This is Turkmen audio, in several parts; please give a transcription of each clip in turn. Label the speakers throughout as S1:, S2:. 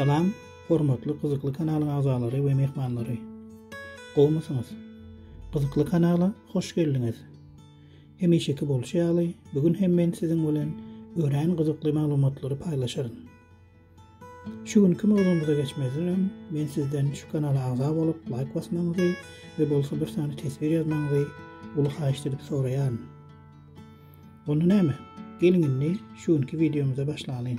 S1: Salam, hormatly gyzykly kanalyň agzalary we mehmanlary. Gowmysyňyz? Gyzykly kanala hoş geldiňiz. Hemişeki bolşy ýaly, bu gün hem men siziň bilen örän gyzykly maglumatlary paýlaşaryn. Şu günki mowzumyza geçmezden öň men sizden şu kanala agza bolup laýk basmagyňyzy we bolsa bir sany teswir ýazmagyňyzy uly haýyşt edip soraýaryn. Onda näme? Geliň indi şu günki wideomyza başlalyň.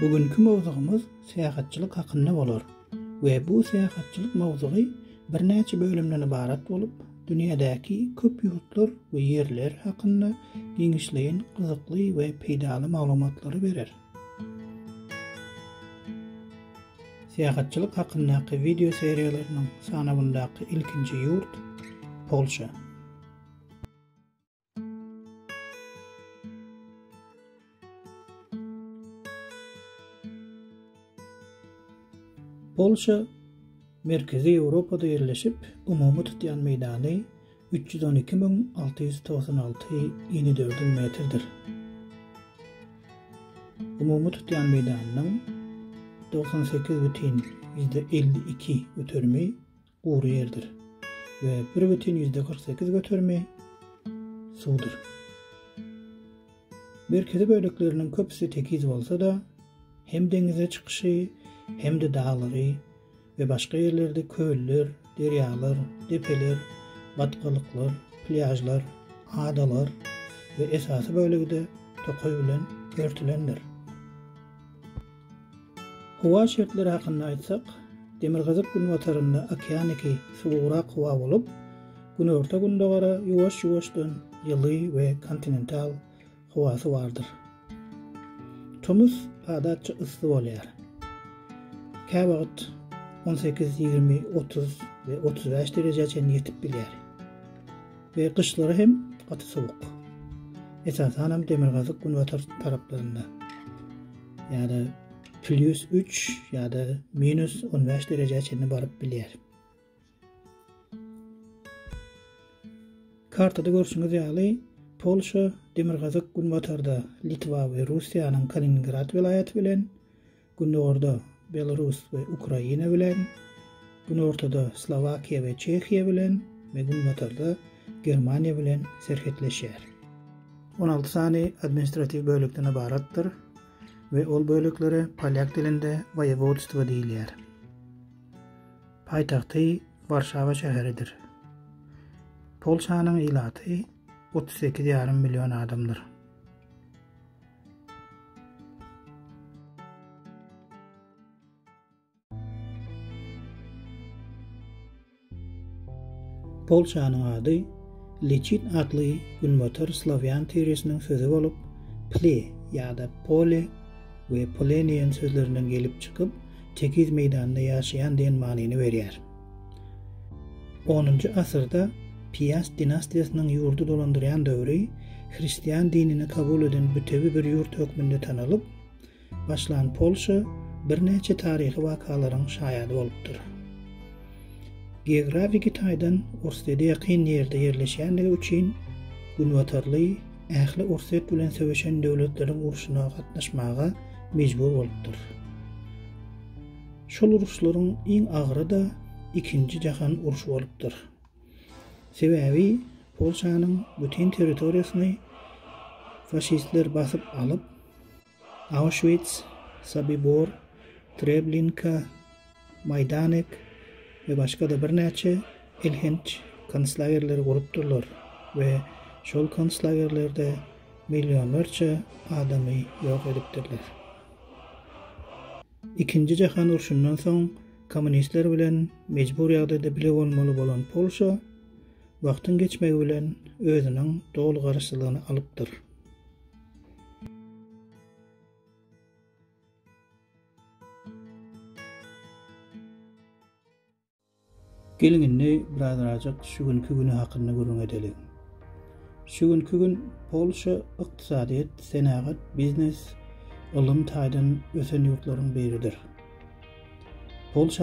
S1: Bu günki mowzugymyz syýahatçylyk hakynda bolar we bu syýahatçylyk mowzugy birnäçe bölümden ybarat bolup, dünýädäki köp ýurtlar we ýerler hakynda giňişleýin gyzykly we peýdaly maglumatlary berer. Syýahatçylyk hakyndaky wideo seriýalarynyň sanawyndaky ilkinji ýurt, Polşa. Polşa Merkezi Ýewropada ýerleşip, umumy tutýan meýdany 312.696 ini dördül metrdir. Umumy tutýan meýdanynyň 98 bütin ýüzde elli iki göterimi gury ýerdir we bir bütin ýüzde kyrk sekiz göterimi suwdur. Merkezi bölekleriniň köpüsi tekiz bolsa-da, hem deňize çykyşy, hem-de daglary we başga ýerlerde köller, derýalar, depeler, batgalyklar, plýažlar, adalar we esasy bölegi-de tokaý bilen örtülendir. Howa şertleri hakynda aýtsak, demirgazyk-günbatarynda okeaniki suwugrak howa bolup, günorta-gündogara ýuwaş-ýuwaşdan ýyly we kontinental howasy bardyr. Tomus adatça yssy bolýar. Käwagt on sekiz, ýigrimi, otuz we otuz bäş derejä çenli ýetip bilýär we gyşlary hem gaty sowuk, esasanam demirgazyk-günbatar taraplarynda. ýa-da plýus üç ýa-da minus on bäş derejä çenli baryp bilýär. Kartada görşüňiz ýaly, Polşa demirgazyk günbatarda Litwa we Russiýanyň Kaliningrad welaýaty bilen, gündogarda Belarus we Ukraina bilen, Günortada Slowakiýa we Çehiýa bilen we günbatarda Germaniýa bilen serhetleşýär. On alty sany administratiw bölekden ybaratdyr we ol böleklere polýak dilinde woýewodstwo diýilýär. Paýtagty Warşawa şäheridir. Polşanyň ilaty otuz sekiz ýarym million adamdyr. Polçanyň ady Liçit atly günbatar slawýan tiresiniň sözi bolup, ple ýa-da pole we poleniýen sözlerinden gelip çykyp, tekiz meýdanda ýaşaýan diýen manyny berýär. Onunjy asyrda Piast dinastiýasynyň ýurdy dolandyrýan döwri hristian dinini kabul eden bütewi bir ýurt hökmünde tanalyp, başlan Polşa birnäçe taryhy wakalaryň şaýady bolupdyr. Geografiki taýdan Orsýete ýakyn ýerde ýerleşýändigi üçin günbatarly ähli Orsýet bilen söweşen döwletleriň urşuna gatnaşmaga mejbur bolupdyr. Şol uruşlaryň iň agyry-da Ikinji jahan urşy bolupdyr. Sebäbi Polşanyň bütin territoriýasyny faşistler basyp alyp, Auschwitz, Sobibor, Treblinka, Maýdanek we başga-da birnäçe elhenç konslagerleri gurupdyrlar we şol konslagerlerde millionlarça adamy ýok edipdirler. Ikinji jahan urşundan soň kommunistler bilen mejbur ýagdaýda bile bolmaly bolan Polşa wagtyň geçmegi bilen özüniň doly garaşsyzlygyny alypdyr. Geliň indi birazrajyk şu günki güni hakynda gürrüň edeliň. Şu günki gün Polşa ykdysadyýet, senagat, biznes, ylym taýdan ösen ýurtlaryň biridir. Polşa.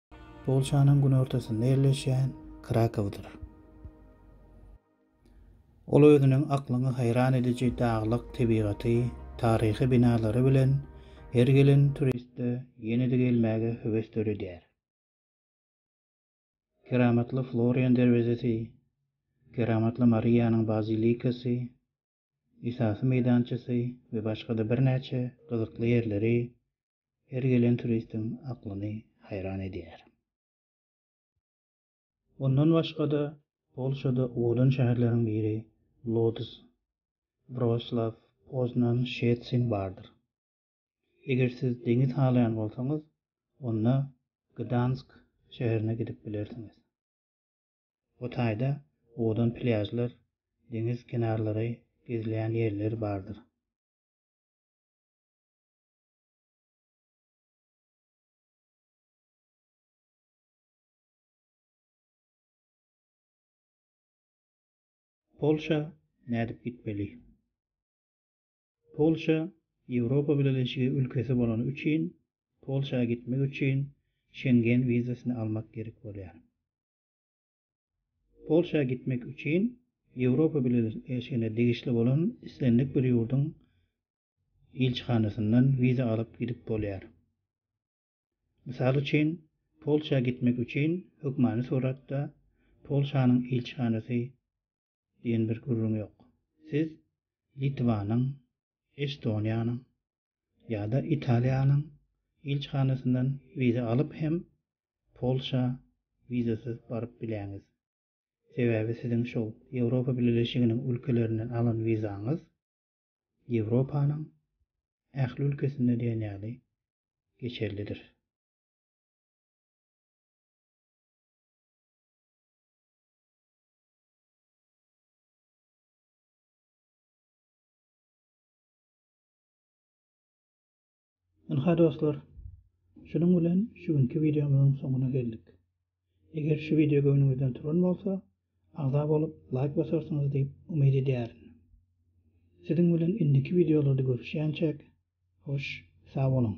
S1: Polşanyň günortasynda ýerleşýän Krakowdyr. Ol özüniň aklyňy haýran ediji daglyk tebigaty, taryhy binalary bilen her gelen turistde ýene-de gelmäge höwes döredýär. Keramatly Florian derwezesi, Keramatly Mariýanyň bazilikasy, esasy meýdançasy we başga-da birnäçe gyzykly ýerleri her gelen turistiň aklyny haýran edýär. Ondan başga-da, Polşada owadan şäherleriň biri Lodz, Wroslaw, Poznan, Şetsin bardyr. Eger siz deňiz halaýan bolsaňyz, onda Gdansk şäherine gidip bilersiňiz. Bu taýda owadan plýažlar, deňiz kenarlary, gezilýän ýerler bardyr. Polşa nädip gitmeli? Polşa Ýewropa Bileleşigi ülkesi bolany üçin Polşa gitmek üçin Şengen wizasyny almak gerek bolýar. Polşa gitmek üçin Ýewropa Bileleşigine degişli bolan islendik bir ýurduň ilçihanasyndan wiza alyp gidip bolýar. Mysal üçin, Polşa gitmek üçin hökmany suratda Polşanyň ilçihanasy diýen bir gürrüň ýok. Siz Litwanyň, Estoniýanyň ýa-da Italiýanyň ilçihanasyndan wiza alyp hem Polşa wizasyz baryp biläňiz. Sebäbi siziň şol Ýewropa Bileleşiginiň ülkelerinden alan wizaňyz Ýewropanyň ähli ülkesinde diýen ýaly geçerlidir. Ynha dostlar, şunuň bilen şu günki wideomyzyň soňuna geldik. Eger şu wideo göwnüňizden turan bolsa, agza bolup, laýk basarsyňyz diýip umyt edýärin. Siziň bilen indiki wideolarda görüşýänçäk, hoş, sag boluň!